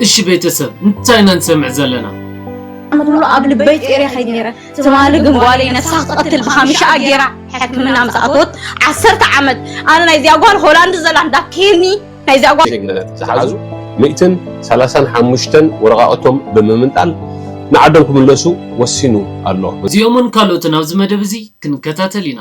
እሺ ቤተሰብ እንታይ ኢና ንሰምዕ ዘለና? ኣነ ኩሉ ኣብ ልበይ ጤሬ ከይድ ነይረ ትማሊ ግን ጓለይ ነፍሳ ክትቐትል ብሓሚሻኣ ገይራ ሕክምና ምስ ኣተወት ዓሰርተ ዓመት ኣነ ናይዚኣ ጓል ሆላንድ ዘላ እንዳትከየኒ ናይዚኣ ጓል ዜግነት ዝሓዙ ሚእትን ሰላሳን ሓሙሽተን ወረቓቕቶም ብምምንጣል ንዓዶም ክምለሱ ወሲኑ ኣሎ። እዚኦምን ካልኦትን ኣብዚ መደብ እዚ ክንከታተል ኢና።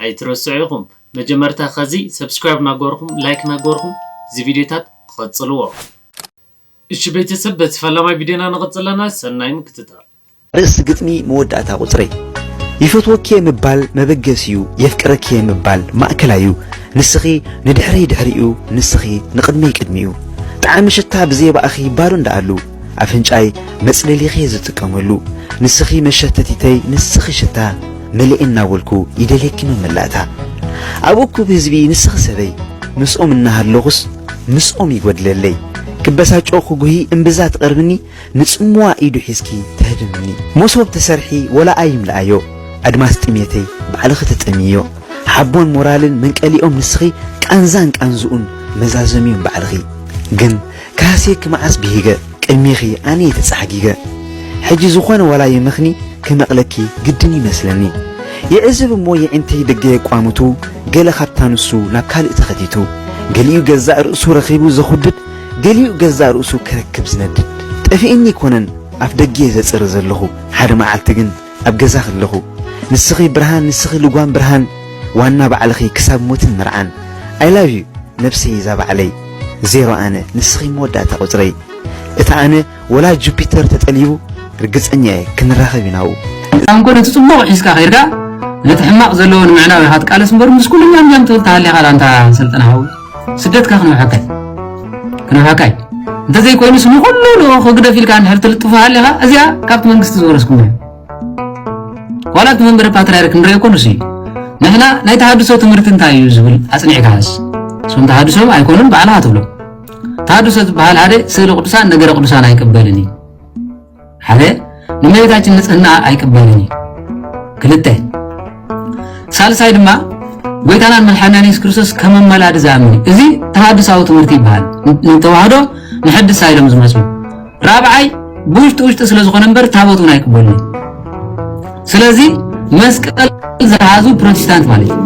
ኣይትረስዑ ኢኹም መጀመርታ ከዚ ሰብስክራይብ ናገበርኹም ላይክ ናገበርኹም እዚ ቪድዮታት ቐጽልዎ። እሺ ቤተሰብ በቲ ፈላማይ ቪድዮና ንቅጽል ኣለና ሰናይ ምክትታል። ርእሲ ግጥሚ መወዳእታ ቁጽረይ። ይፈትወኪ'የ ምባል መበገሲ'ዩ የፍቅረኪ'የ ምባል ማእከላይ'ዩ ንስኺ ንድሕረይ ድሕሪ'ዩ ንስኺ ንቕድመይ ቅድሚ'ዩ ጣዕሚ ሽታ ብዘየባእኺ ባዶ እንዳኣሉ ኣፍንጫይ መጽለሊ'ኺ'የ ዝጥቀመሉ ንስኺ መሸተቲተይ ንስኺ ሽታ መልኤ እናበልኩ ይደልየኪ መመላእታ ኣብ እኩብ ህዝቢ ንስኺ ሰበይ ምስኦም እናሃለኹስ ምስኦም ይጎድለለይ ክበሳጮ ክጉሂ እምብዛ ትቐርብኒ ንጽምዋ ኢዱ ሒዝኪ ተህድምኒ ሞሶብ ተሰርሒ ወላ ኣይምልኣዮ ኣድማስ ጥሜተይ ባዕልኺ ተጠምይዮ ሓቦን ሞራልን መንቀሊኦም ንስኺ ቃንዛን ቃንዝኡን መዛዘሚኡን ባዕልኺ ግን ካህሴኪ መዓስ ብሂገ ቅድሜኺ ኣነ'የ ተጻሕጊገ ሕጂ ዝኾነ ዋላ ይመኽኒ ክመቕለኪ ግድን ይመስለኒ ይዕዝብ እሞ የዒንተይ ደገ የቋምቱ ገለ ካብታ ንሱ ናብ ካልእ ተኸቲቱ ገሊኡ ገዛእ ርእሱ ረኺቡ ዘኹድድ ገሊኡ ገዛእ ርእሱ ክረክብ ዝነድድ ጠፊእኒ ኣይኮነን ኣፍደጌ ዘጽሪ ዘለኹ ሓደ መዓልቲ ግን ኣብ ገዛ ከለኹ ንስኺ ብርሃን ንስኺ ልጓም ብርሃን ዋና ባዕልኺ ክሳብ ሞትን መርዓን ኣይ ላቭ ዩ ነብሰይ እዛ ባዕለይ ዜሮ ኣነ ንስኺ መወዳእታ ቁጽረይ እቲ ኣነ ወላ ጁፒተር ተጠሊቡ ርግጸኛ እየ ክንራኸብ ኢና ኣብኡ ኣንኮ ነቲ ጽቡቕ ሒዝካ ከይድካ ነቲ ሕማቕ ዘለዎ ንምዕናው ኢኻ ትቃለስ እምበር ምስ ኩሉ እኛም እኛም ትብል ተሃሊኻ ዳኣ ኣንታ ሰልጠነ ሓወይ ስደትካ ክንውሐከይ ክንውሐካይ እንተዘይኮይኑስ ንኹሉ ልኡኽ ህግደፍ ኢልካ እንድሕር ትልጥፎ ሃሊኻ እዚኣ ካብቲ መንግስቲ ዝወረስኩም እዩ ዋላ እቲ መንበረ ፓትርያርክ ንሪኦ ኮኑስ እዩ ንሕና ናይ ተሃድሶ ትምህርቲ እንታይ እዩ ዝብል ኣፅኒዕካ ሃስ እሶም ተሃድሶ ኣይኮኑን ባዕልኻ ትብሎ ተሃድሶ ዝበሃል ሓደ ስእሊ ቅዱሳን ነገረ ቅዱሳን ኣይቅበልን እዩ ሓደ ንመሬታችን ንጽህና ኣይቅበልን እዩ ክልተ ሳልሳይ ድማ ጎይታናን መድሓኒናን የሱስ ክርስቶስ ከም ኣመላዲ ዝኣምን እዚ ተሃድሳዊ ትምህርቲ ይበሃል ንተዋህዶ ንሐድሳ ኢሎም ዝመፁ ራብዓይ ብውሽጢ ውሽጢ ስለ ዝኾነ እምበር ታቦት እውን ኣይቅበሉ ስለዚ መስቀል ዝሓዙ ፕሮቴስታንት ማለት እዩ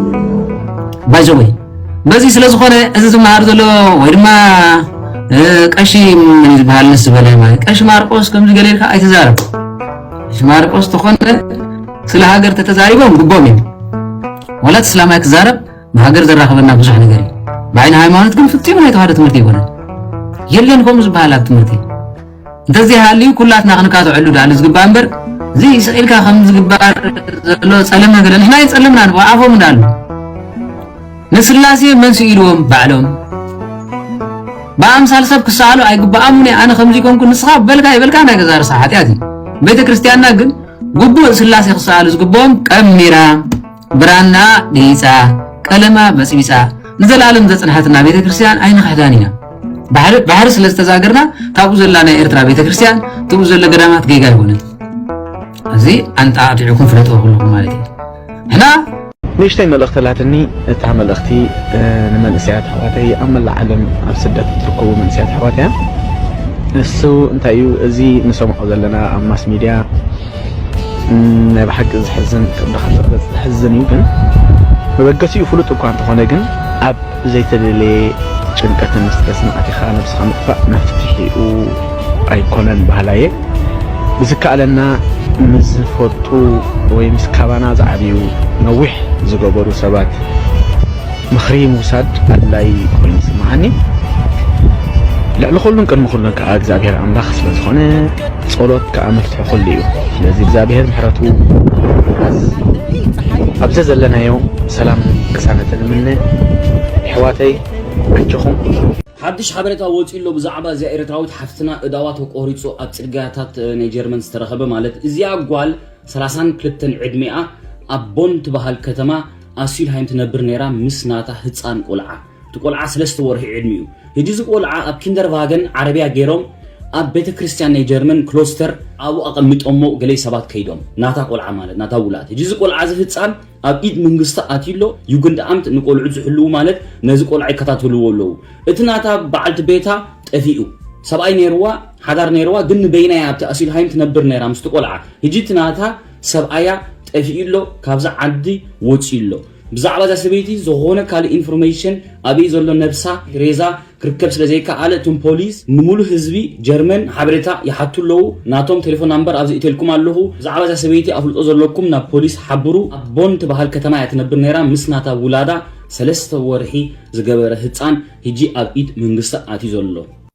ባይዘወይ በዚ ስለ ዝኾነ እዚ ዝመሃር ዘሎ ወይ ድማ ቀሺ ምን ዝበሃል ንስ ዝበለ ማለት ቀሺ ማርቆስ ከምዚ ገለ ኢልካ ኣይትዛረብ ቀሺ ማርቆስ ተኾነ ስለ ሃገር ተተዛሪቦም ግቦም እዩ ወላት እስላማይ ክዛረብ ንሃገር ዘራኽበና ብዙሕ ነገር እዩ ብዓይኒ ሃይማኖት ግን ፍፂሙ ናይ ተዋህዶ ትምህርቲ ይኮነን የለን ከምኡ ዝበሃል ኣብ ትምህርቲ እንተዘይሃልዩ ኩላትና ክንቃዘዐሉ ድኣሉ ዝግባእ እምበር እዚ ስቅ ኢልካ ከም ዝግባር ዘሎ ጸለም ነገር ንሕና ይጸልምና ንበ ኣፎም እንዳሉ ንስላሴ መን ስኢልዎም ባዕሎም ብኣምሳል ሰብ ክሰኣሉ ኣይግብኣሙን ኣነ ከምዚ ኮንኩ ንስኻ በልካ ይበልካ ናይ ገዛ ርሳ ሓጢኣት እዩ ቤተ ክርስቲያንና ግን ግቡእ ስላሴ ክሰኣሉ ዝግብኦም ቀሚራ ብራናኣ ገይጻ፣ ቀለማ በጽቢጻ ንዘለኣለም ዘጽንሓትና ቤተ ክርስቲያን ኣይንኽሕዳን ኢና። ባሕሪ ስለ ዝተዛገርና ካብኡ ዘላ ናይ ኤርትራ ቤተ ክርስቲያን ትብኡ ዘሎ ገዳማት ጌጋ ኣይኮነን እዚ ኣንጣዕጢዑኩም ፍለጥዎ ኩልኩም ማለት እዩ ሕና ንእሽተይ መልእኽቲ ኣላትኒ እታ መልእኽቲ ንመንእሰያት ኣሕዋተይ ኣብ መላእ ዓለም ኣብ ስደት እትርከቡ መንእሰያት ኣሕዋት እያ ንሱ እንታይ እዩ እዚ ንሰምዖ ዘለና ኣብ ማስ ሚድያ ናይ ብሓቂ ዝሕዝን ከም ድኻ ዝቕረጽ ዝሕዝን እዩ ግን መበገሲኡ ፍሉጥ እኳ እንተኾነ ግን ኣብ ዘይተደለየ ጭንቀትን ስትረስን ኣቲኻ ነብስኻ ምጥፋእ መፍትሒኡ ኣይኮነን ባህላየ ብዝከኣለና ምስ ዝፈልጡ ወይ ምስ ካባና ዝዓብዩ ነዊሕ ዝገበሩ ሰባት ምኽሪ ምውሳድ ኣድላይ ኮይኑ ይስምዓኒ ልዕሊ ኩሉን ቅድሚ ኩሉን ከዓ እግዚኣብሔር ኣምላኽ ስለ ዝኾነ ጸሎት ከኣ መፍትሒ ኩሉ እዩ ስለዚ እግዝኣብሄር ምሕረቱ ይሃበና ኣብ ዘዘለናዮ ሰላምን ቅሳነትን እምነ የሕዋተይ ኣጆኹም። ሓድሽ ሓበሬታ ወጺኡ ኣሎ ብዛዕባ እዚኣ ኤርትራዊት ሓፍትና እዳዋ ተቆሪጹ ኣብ ጽርግያታት ናይ ጀርመን ዝተረኸበ ማለት እዚኣ ጓል ሰላሳን ክልተን ዕድሜኣ ኣብ ቦን ትበሃል ከተማ ኣሲልሃይም ትነብር ነይራ ምስ ናታ ህጻን ቆልዓ እቲ ቆልዓ ስለስተ ወርሒ ዕድሚኡ። ህጂ እዚ ቆልዓ ኣብ ኪንደርቫገን ዓረብያ ገይሮም ኣብ ቤተ ክርስትያን ናይ ጀርመን ክሎስተር ኣብኡ ኣቀሚጦሞ ገሌ ሰባት ከይዶም ናታ ቆልዓ ማለት ናታ ውላድ ህጂ እዚ ቆልዓ እዚ ህጻን ኣብ ኢድ ምንግስቲ ኣትዩ ኣሎ ዩግንድኣምት ንቆልዑት ዝሕልዉ ማለት ነዚ ቆልዓ ይከታተልዎ ኣለዉ እቲ ናታ በዓልቲ ቤታ ጠፊኡ ሰብኣይ ነይርዋ ሓዳር ነይርዋ ግን ንበይና እያ ኣብቲ ኣሲልሃይም ትነብር ነይራ ምስቲ ቆልዓ ህጂ እቲ ናታ ሰብኣያ ጠፊኡ ኣሎ ካብዚ ዓዲ ወጺኡ ኣሎ ብዛዕባ እዛ ሰበይቲ ዝኾነ ካልእ ኢንፎርመይሽን ኣበይ ዘሎ ነብሳ፣ ሬዛ፣ ክርከብ ስለ ዘይከኣለ እቶም ፖሊስ ንሙሉእ ህዝቢ ጀርመን ሓበሬታ ይሓቱ ኣለዉ። ናቶም ቴሌፎን ናምበር ኣብዚ እቴልኩም ኣለኹ። ብዛዕባ እዛ ሰበይቲ ኣፍልጦ ዘለኩም ናብ ፖሊስ ሓብሩ። ኣብ ቦን ትበሃል ከተማ እያ ትነብር ነይራ ምስ ናታ ውላዳ ሰለስተ ወርሒ ዝገበረ ህጻን ህጂ ኣብ ኢድ መንግስቲ ኣትዩ ዘሎ።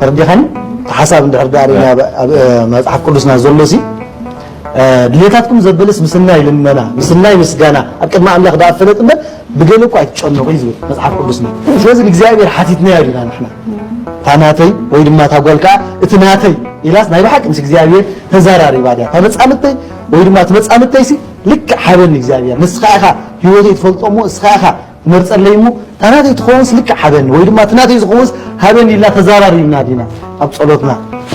ተረዲኻኒ እቲ ሓሳብ እንድሕር ደኣ ሪእና ኣብ መጽሓፍ ቅዱስና ዘሎሲ ድሌታትኩም ዘበለስ ምስናይ ልመና ምስናይ ምስጋና ኣብ ቅድሚ ኣምላኽ ደኣ ፈለጥ እምበር ብገለ እኳ ኣይትጨነቑ እዩ ዝብል መጽሓፍ ቅዱስና ስለዚ ንእግዚኣብሔር ሓቲትናዮ ዲና ንሕና እታ ናተይ ወይ ድማ እታ ጓል ከዓ እቲ ናተይ ኢላስ ናይ ብሓቂ ምስ እግዚኣብሔር ተዘራሪባ ድያ እታ መጻምድተይ ወይ ድማ እቲ መጻምድተይሲ ልክዕ ሃበኒ እግዚኣብሔር ንስኻ ኢኻ ህይወተይ ትፈልጦ እሞ ንስኻ ኢኻ መርጸለይ እሞ እታ ናተይ ትኸውንስ ልክዕ ሃበኒ ወይ ድማ እቲ ናተይ ዝኸውንስ ሃበኒ ኢልና ተዛራሪብና ዲና ኣብ ጸሎትና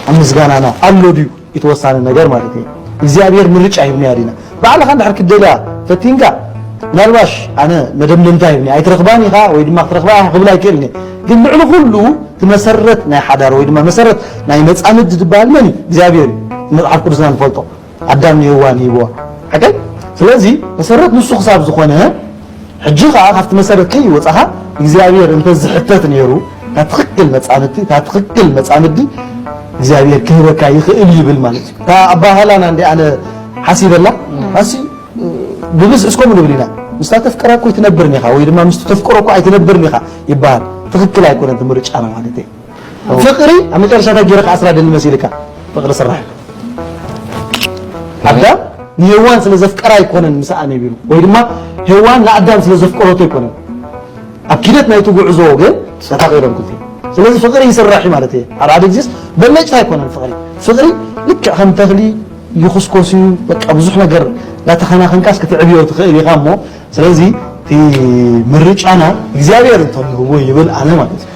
ኣብ ምስጋናና ኣሎ ድዩ እቲ ወሳኒ ነገር ማለት እዩ እግዚኣብሔር ምርጫ ሂብና ዲና ባዕልኻ እንድሕር ክትደልያ ፈቲንካ ምናልባሽ ኣነ መደምደምታ ሂብኒ ኣይትረኽባን ኢኻ ወይ ድማ ክትረኽባ ኢኻ ክብል ኣይክእልን እየ ግን ልዕሊ ኩሉ እቲ መሰረት ናይ ሓዳር ወይ ድማ መሰረት ናይ መጻምድ ዝበሃል መን እዩ እግዚኣብሔር እዩ መጽሓፍ ቅዱስና ንፈልጦ ኣዳም ንሄዋን ሂብዋ ሓቀይ ስለዚ መሰረት ንሱ ክሳብ ዝኾነ ሕጂ ከዓ ካብቲ መሰረት ከይወፃኻ እግዚኣብሔር እንተዝሕተት ነይሩ እታ ትኽክል መፃምድቲ እታ ትኽክል መፃምዲ እግዚኣብሔር ክህበካ ይኽእል ይብል ማለት እዩ እታ ኣባህላና እንዲ ኣነ ሓሲበላ ኣሲ ብብዝሒ እስከ ንብል ኢና ምስታ ተፍቅራ እኮ ኣይትነብርን ኢኻ ወይ ድማ ምስቲ ተፍቅሮ እኮ ኣይትነብርን ኢኻ ይበሃል ትኽክል ኣይኮነን እቲ ምርጫና ማለት እዩ ፍቅሪ ኣብ መጨረሻ እንታይ ገይረ ክኣስራ ደሊ መሲልካ ፍቅሪ ስራሕ ኣዳም ንሄዋን ስለ ዘፍቀራ ኣይኮነን ምስኣ ነቢሩ ወይ ድማ ሄዋን ንኣዳም ስለ ዘፍቀረቶ ኣይኮነን ኣብ ኪደት ናይቲ ጉዕዞ ግን ተፋቂሮም ክልቲ ስለዚ ፍቅሪ ይስራሕ እዩ ማለት እየ ኣብ ሓደ ግዜስ በለጭታ ኣይኮነን ፍቅሪ ፍቅሪ ልክዕ ከም ተኽሊ ይኹስኮስ እዩ በቃ ብዙሕ ነገር እንዳተኸናኸንካስ ክትዕብዮ ትኽእል ኢኻ እሞ ስለዚ እቲ ምርጫና እግዚኣብሔር እንተልህዎ ይብል ኣነ ማለት እዩ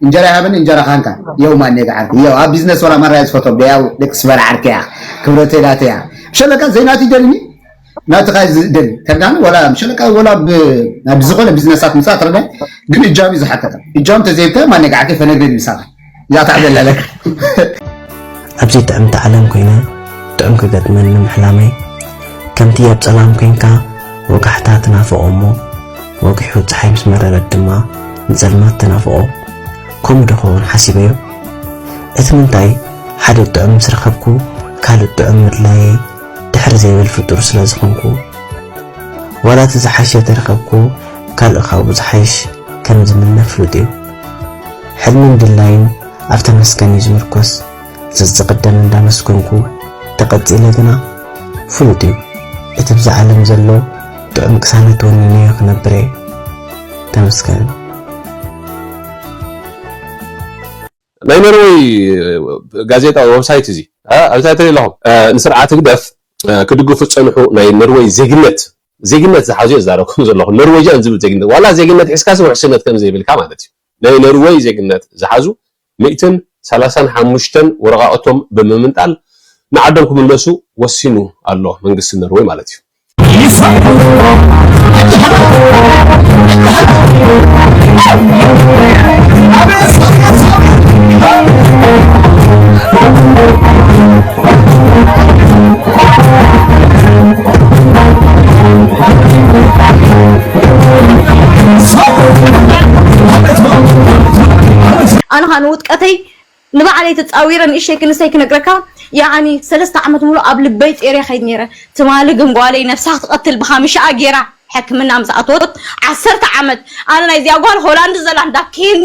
እንጀራ ይሃበኒ እንጀራ ካንካ የው ማኔ ገዓርኩ የው ኣብ ቢዝነስ ወላ ማራያ ዝፈቶም ደያው ደቂ ስበር ዓርኪ እያ ክብረተይ ናተይ እያ ምሸለካ ዘይናቱ ይደልኒ ናትኻ ዝደሊ ተርጋሚ ወላ ምሸለካ ወላ ናብ ዝኾነ ቢዝነሳት ምፃእ ትረዳ ግን እጃም እዩ ዝሓተተ እጃም ተዘይብካ ማኔ ገዓርኪ ፈነግረኒ ምሳኻ እዛ ታዕደል ኣለካ ኣብዚ ጥዕምቲ ዓለም ኮይነ ጥዑም ክገጥመኒ ምሕላመይ ከምቲ ኣብ ጸላም ኮንካ ወጋሕታ ትናፍቖ እሞ ወጊሑ ጸሓይ ምስ መረረት ድማ ንጸልማት ተናፍቖ ከምኡ ዶ ኸውን ሓሲበዮ እቲ ምንታይ ሓደ ጥዑም ምስ ረኸብኩ ካልእ ጥዑም ምድላየይ ድሕር ዘይብል ፍጡር ስለ ዝኾንኩ ዋላ እቲ ዝሓሸ ተረኸብኩ ካልእ ካብኡ ዝሓይሽ ከም ዝምነ ፍሉጥ እዩ ሕልምን ድላይን ኣብ ተመስገን እዩ ዝምርኮስ ዘዝቕደም እንዳመስገንኩ ተቐጺለ ግና ፍሉጥ እዩ እቲ ብዛ ዓለም ዘሎ ጥዑም ቅሳነት ወኒነዮ ክነብር እየ ተመስገን ናይ ኖርወይ ጋዜጣ ወብሳይት እዚ ኣብታይ ትርኢ ኣለኹም ንስርዓት ህግደፍ ክድግፉ ዝፀንሑ ናይ ኖርወይ ዜግነት ዜግነት ዝሓዙ እየ ዝዛረብኩም ዘለኹ ኖርወጃን ዝብል ዜግነት ዋላ ዜግነት ሒዝካሲ ውሕስነት ከም ዘይብልካ ማለት እዩ ናይ ኖርወይ ዜግነት ዝሓዙ ሚእትን ሰላሳን ሓሙሽተን ወረቓቕቶም ብምምንጣል ንዓዶም ክምለሱ ወሲኑ ኣሎ፣ መንግስቲ ኖርወይ ማለት እዩ። ኣነ ኸኣ ንውድቀተይ ንባዕለይ ተጻዊረ ንእሽተይ ክንሰይ ክነግረካ ያዓኒ ሰለስተ ዓመት ሙሉእ ኣብ ልበይ ጼሬ ይኸይድ ኔረ ትማሊ ግን ጓለይ ነብሳ ክትቀትል ብኻምሽኣ ጌራ ሕክምና ምስ ኣተወት ዓሰርተ ዓመት ኣነ ናይዚኣ ጓል ሆላንድ ዘላ እንዳ ኬኒ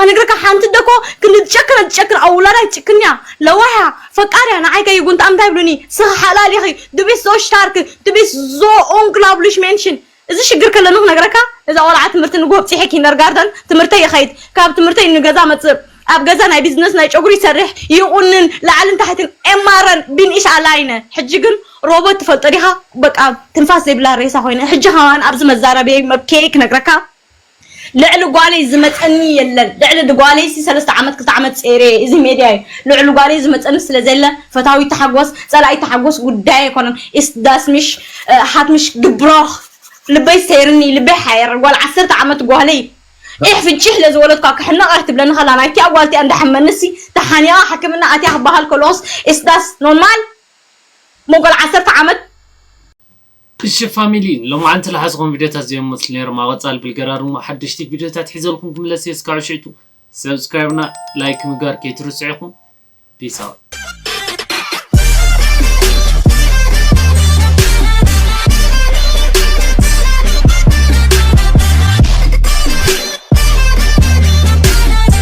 ኣነግረካ ሓንቲ ኣደ እኮ ክንዲ ትጨክነ ትጨክን ኣብ ውላዳ ኣይትጭክን እያ ለዋህ እያ ፈቃር እያ ንዓይ ከይጉንታ እንታይ ይብሉኒ ስኺ ሓላል ኢኺ ዱ ቢስት ዞ ሽታርክ ዱ ቢስት ዞ ኡንግላብሊሽ ሜንሽን እዚ ሽግር ከለኒ ክነግረካ እዛ ቆልዓ ትምህርቲ ንግሆ ኣብጺሐ ኪንደርጋርተን ትምህርተይ ይኸይድ ካብ ትምህርተይ ንገዛ መጽእ ኣብ ገዛ ናይ ቢዝነስ ናይ ጨጉሪ ይሰርሕ ይቑንን ላዕልን ታሕትን ኤማረን ቢን ኢሽ ኣላይነ ሕጂ ግን ሮቦት ትፈልጦ ዲኻ በቃ ትንፋስ ዘይብላ ሬሳ ኮይነ ሕጂ ከማን ኣብዚ መዛረብየይ መብክየይ ክነግረካ ልዕሊ ጓለይ ዝመጸኒ የለን ልዕሊ ድጓለይሲ ሰለስተ ዓመት ክልተ ዓመት ጼሬ እየ እዚ ሜድያ እዩ ልዕሉ ጓለይ ዝመጸኒ ስለ ዘየለ ፈታዊት ታሓጎስ ጸላኢት ታሓጎስ ጉዳየይ ኣይኮነን ኢስት ዳስ ሚሽ ሃት ሚሽ ግብሮክ ልበይ ሰይርኒ ልበይ ሓየር ጓል ዓሰርተ ዓመት ጓለይ ዒሕ ፍንጪሕ ለዝወለድኳ ክሕነቅ እያ ትብለኒ ከላ ናይቲኣ ጓል እቲኣ እንዳሓመንሲ ታሓኒቃ ሓክምና ኣትያ ክባሃል ከሎስ ኢስት ዳስ ኖርማል እሞ ጓል ዓሰርተ ዓመት እሺ ፋሚሊ ሎማዓንቲ ልሓዝኹም ቪድዮታት ዘይም መስሉ ነይሮም ኣብ ቐፃሊ ብልገራ ድሞ ሓደሽቲ ቪድዮታት ሒዘልኩም ክምለስ እየ እስካብ ሽዕቱ subscribe እና like ምግባር ከይትርስዑ ኢኹም peace out